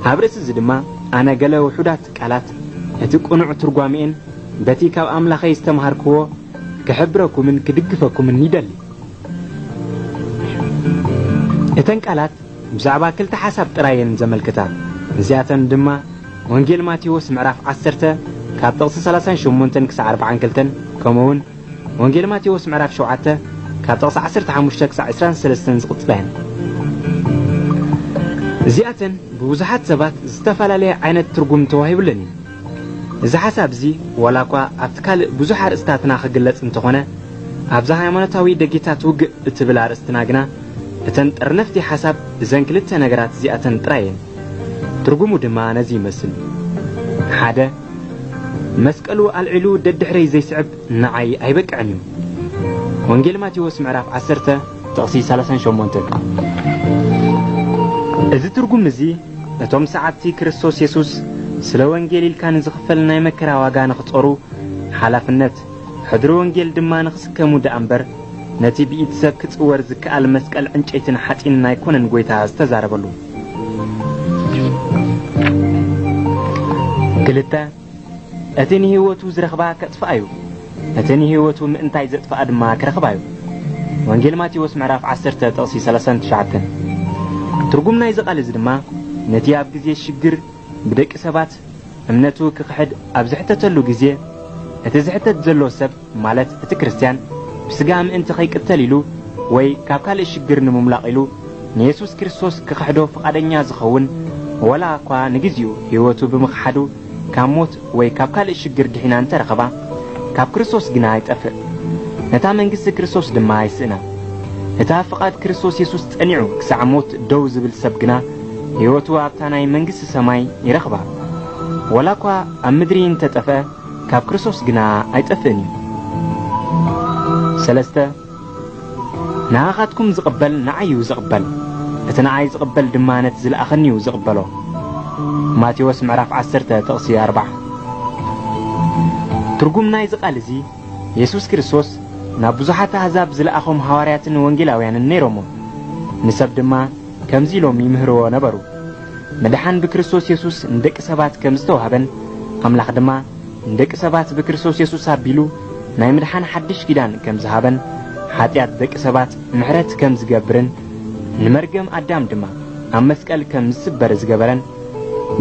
ኣብ ርእሲ እዚ ድማ ኣነ ገለ ውሑዳት ቃላት እቲ ቅኑዕ ትርጓሜኤን በቲ ካብ ኣምላኸይ ዝተማሃርክዎ ክሕብረኩምን ክድግፈኩምን ይደሊ። እተን ቃላት ብዛዕባ ክልተ ሓሳብ ጥራይ እየን ዘመልክታ። እዚኣተን ድማ ወንጌል ማቴዎስ ምዕራፍ ዓሰርተ ካብ ጥቕሲ ሰላሳን ሸሞንተን ክሳዕ ኣርብዓን ክልተን ከምኡውን ወንጌል ማቴዎስ ምዕራፍ ሸውዓተ ካብ ጥቕሲ ዓሰርተ ሓሙሽተ ክሳዕ ዕስራን ሰለስተን ዝቕጽላ እየን። እዚኣተን ብብዙሓት ሰባት ዝተፈላለየ ዓይነት ትርጉም ተዋሂብለን እዩ። እዚ ሓሳብ እዚ ዋላ እኳ ኣብቲ ካልእ ብዙሕ ኣርእስታትና ክግለጽ እንተኾነ ኣብዛ ሃይማኖታዊ ደጌታት ውግእ እትብል ኣርእስትና ግና እተን ጠርነፍቲ ሓሳብ እዘን ክልተ ነገራት እዚኣተን ጥራይ እየን። ትርጉሙ ድማ ነዚ ይመስል፣ ሓደ መስቀሉ ኣልዒሉ ደድሕረይ ዘይስዕብ ንዓይ ኣይበቅዕን እዩ። ወንጌል ማቴዎስ ምዕራፍ 10 ጥቕሲ 38 እዚ ትርጉም እዚ እቶም ሰዓብቲ ክርስቶስ የሱስ ስለ ወንጌል ኢልካ ንዝኽፈል ናይ መከራ ዋጋ ንኽጾሩ ሓላፍነት ሕድሪ ወንጌል ድማ ንኽስከሙ ደኣ እምበር ነቲ ብኢድ ሰብ ክጽወር ዝከኣል መስቀል ዕንጨይትን ሓጺንን ኣይኮነን ጐይታ ዝተዛረበሉ። ክልተ እቲ ንህይወቱ ዝረኽባ ከጥፍኣ እዩ እቲ ንህይወቱ ምእንታይ ዘጥፍኣ ድማ ክረኽባ እዩ ወንጌል ማቴዎስ ምዕራፍ 10 ጥቕሲ 39 ትርጉም ናይዚ ቃል እዚ ድማ ነቲ ኣብ ግዜ ሽግር ብደቂ ሰባት እምነቱ ክኽሕድ ኣብ ዝሕተተሉ ግዜ እቲ ዝሕተት ዘሎ ሰብ ማለት እቲ ክርስትያን ብስጋ ምእንቲ ከይቅተል ኢሉ ወይ ካብ ካልእ ሽግር ንምሙላቕ ኢሉ ንየሱስ ክርስቶስ ክኽሕዶ ፍቓደኛ ዝኸውን ወላ እኳ ንግዜኡ ሕይወቱ ብምኽሓዱ ካብ ሞት ወይ ካብ ካልእ ሽግር ድሒና እንተ ረኸባ ካብ ክርስቶስ ግና ይጠፍእ ነታ መንግስቲ ክርስቶስ ድማ ይስእና እታ ፍቓድ ክርስቶስ የሱስ ጸኒዑ ክሳዕ ሞት ደው ዝብል ሰብ ግና ሕይወቱ ኣብታ ናይ መንግስቲ ሰማይ ይረኽባ ወላ እኳ ኣብ ምድሪ እንተ ጠፍአ ካብ ክርስቶስ ግና ኣይጠፍእን እዩ። ሰለስተ ንኣኻትኩም ዝቕበል ንዓይ እዩ ዝቕበል፣ እቲ ንዓይ ዝቕበል ድማ ነቲ ዝለኣኸኒ እዩ ዝቕበሎ። ማቴዎስ ምዕራፍ 10 ጥቕሲ 4 ትርጉም ናይዚ ቃል እዚ የሱስ ክርስቶስ ናብ ብዙሓት ኣህዛብ ዝለኣኾም ሃዋርያትን ወንጌላውያንን ነይሮሞ ንሰብ ድማ ከምዚ ኢሎም ይምህርዎ ነበሩ፣ ምድሓን ብክርስቶስ የሱስ ንደቂ ሰባት ከም ዝተዋህበን፣ ኣምላኽ ድማ ንደቂ ሰባት ብክርስቶስ የሱስ ኣቢሉ ናይ ምድሓን ሓድሽ ኪዳን ከም ዝሃበን፣ ሓጢኣት ደቂ ሰባት ምሕረት ከም ዝገብርን፣ ንመርገም ኣዳም ድማ ኣብ መስቀል ከም ዝስበር ዝገበረን፣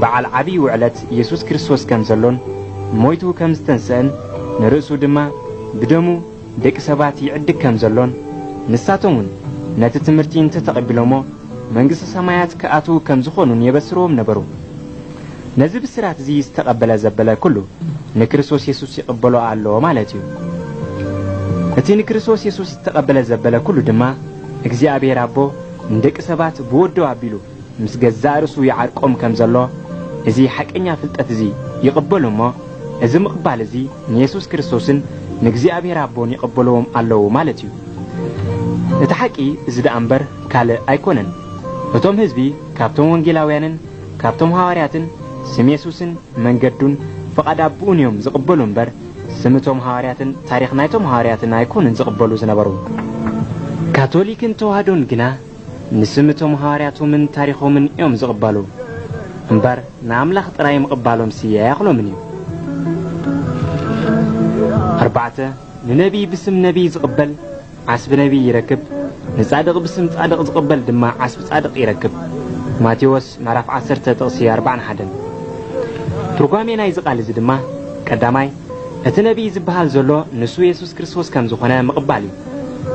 በዓል ዓቢይ ውዕለት የሱስ ክርስቶስ ከም ዘሎን፣ ሞይቱ ከም ዝተንስእን፣ ንርእሱ ድማ ብደሙ፣ ደቂ ሰባት ይዕድግ ከም ዘሎን ንሳቶም እውን ነቲ ትምህርቲ እንተ ተቐቢሎሞ መንግስተ ሰማያት ክኣትዉ ከም ዝኾኑን የበስርዎም ነበሩ። ነዚ ብስራት እዚ ዝተቐበለ ዘበለ ኩሉ ንክርስቶስ የሱስ ይቕበሎ ኣሎ ማለት እዩ። እቲ ንክርስቶስ የሱስ ዝተቐበለ ዘበለ ኩሉ ድማ እግዚኣብሔር ኣቦ ንደቂ ሰባት ብወዱ ኣቢሉ ምስ ገዛእ ርእሱ ይዓርቆም ከም ዘሎ እዚ ሓቀኛ ፍልጠት እዚ ይቕበሉ እሞ እዚ ምቕባል እዚ ንየሱስ ክርስቶስን ንእግዚኣብሔር ኣቦን ይቐበልዎም ኣለዉ ማለት እዩ። እቲ ሓቂ እዚ ደኣ እምበር ካልእ ኣይኮነን። እቶም ህዝቢ ካብቶም ወንጌላውያንን ካብቶም ሃዋርያትን ስም የሱስን መንገዱን ፍቓድ ኣቦኡን እዮም ዝቕበሉ እምበር ስም እቶም ሃዋርያትን ታሪኽ ናይቶም ሃዋርያትን ኣይኮኑን ዝቕበሉ ዝነበሩ። ካቶሊክን ተዋህዶን ግና ንስም እቶም ሃዋርያቶምን ታሪኾምን እዮም ዝቕበሉ እምበር ንኣምላኽ ጥራይ ምቕባሎምሲ ኣያኽሎምን እዩ። ኣርባዕተ ንነቢይ ብስም ነቢይ ዝቕበል ዓስቢ ነቢይ ይረክብ፣ ንጻድቕ ብስም ጻድቕ ዝቕበል ድማ ዓስቢ ጻድቕ ይረክብ። ማቴዎስ ምዕራፍ ዓሰርተ ጥቕሲ ኣርባዕን ሓደን። ትርጓሜ ናይዚ ቃል እዚ ድማ ቀዳማይ እቲ ነቢይ ዝበሃል ዘሎ ንሱ የሱስ ክርስቶስ ከም ዝኾነ ምቕባል እዩ።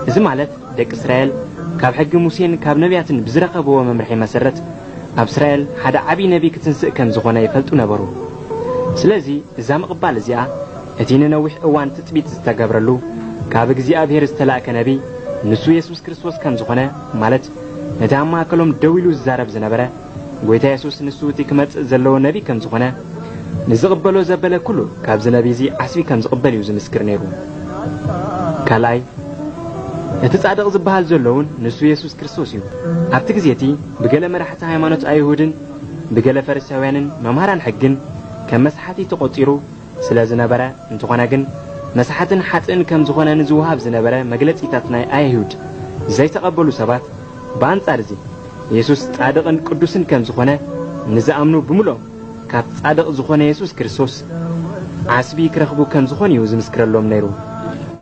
እዚ ማለት ደቂ እስራኤል ካብ ሕጊ ሙሴን ካብ ነብያትን ብዝረኸብዎ መምርሒ መሰረት፣ ኣብ እስራኤል ሓደ ዓብዪ ነብዪ ክትንስእ ከም ዝዀነ ይፈልጡ ነበሩ። ስለዚ፣ እዛ ምቕባል እዚኣ፣ እቲ ንነዊሕ እዋን ትጽቢት ዝተገብረሉ፣ ካብ እግዚኣብሄር ዝተላእከ ነብዪ፣ ንሱ የሱስ ክርስቶስ ከም ዝዀነ፣ ማለት ነቲ ኣብ ማእከሎም ደው ኢሉ ዝዛረብ ዝነበረ፣ ጎይታ የሱስ ንሱ እቲ ክመጽእ ዘለዎ ነቢ ከም ዝኾነ ንዝቕበሎ ዘበለ ኩሉ ካብዚ ነቢ እዚ ዓስቢ ከም ዝቕበል እዩ ዝምስክር ነይሩ ካልኣይ እቲ ጻድቕ ዝበሃል ዘሎ እውን ንሱ የሱስ ክርስቶስ እዩ ኣብቲ ግዜ እቲ ብገለ መራሕቲ ሃይማኖት ኣይሁድን ብገለ ፈሪሳውያንን መምሃራን ሕግን ከም መስሓቲ ተቖጺሩ ስለ ዝነበረ፣ እንተኾነ ግን መሳሓትን ሓጥእን ከም ዝኾነ ንዝወሃብ ዝነበረ መግለጺታት ናይ ኣየሁድ ዘይተቐበሉ ሰባት፣ ብኣንጻር እዚ የሱስ ጻድቕን ቅዱስን ከም ዝኾነ ንዝኣምኑ ብምሉኦም ካብ ጻድቕ ዝኾነ የሱስ ክርስቶስ ዓስቢ ክረኽቡ ከም ዝኾኑ'ዩ ዝምስክረሎም ነይሩ።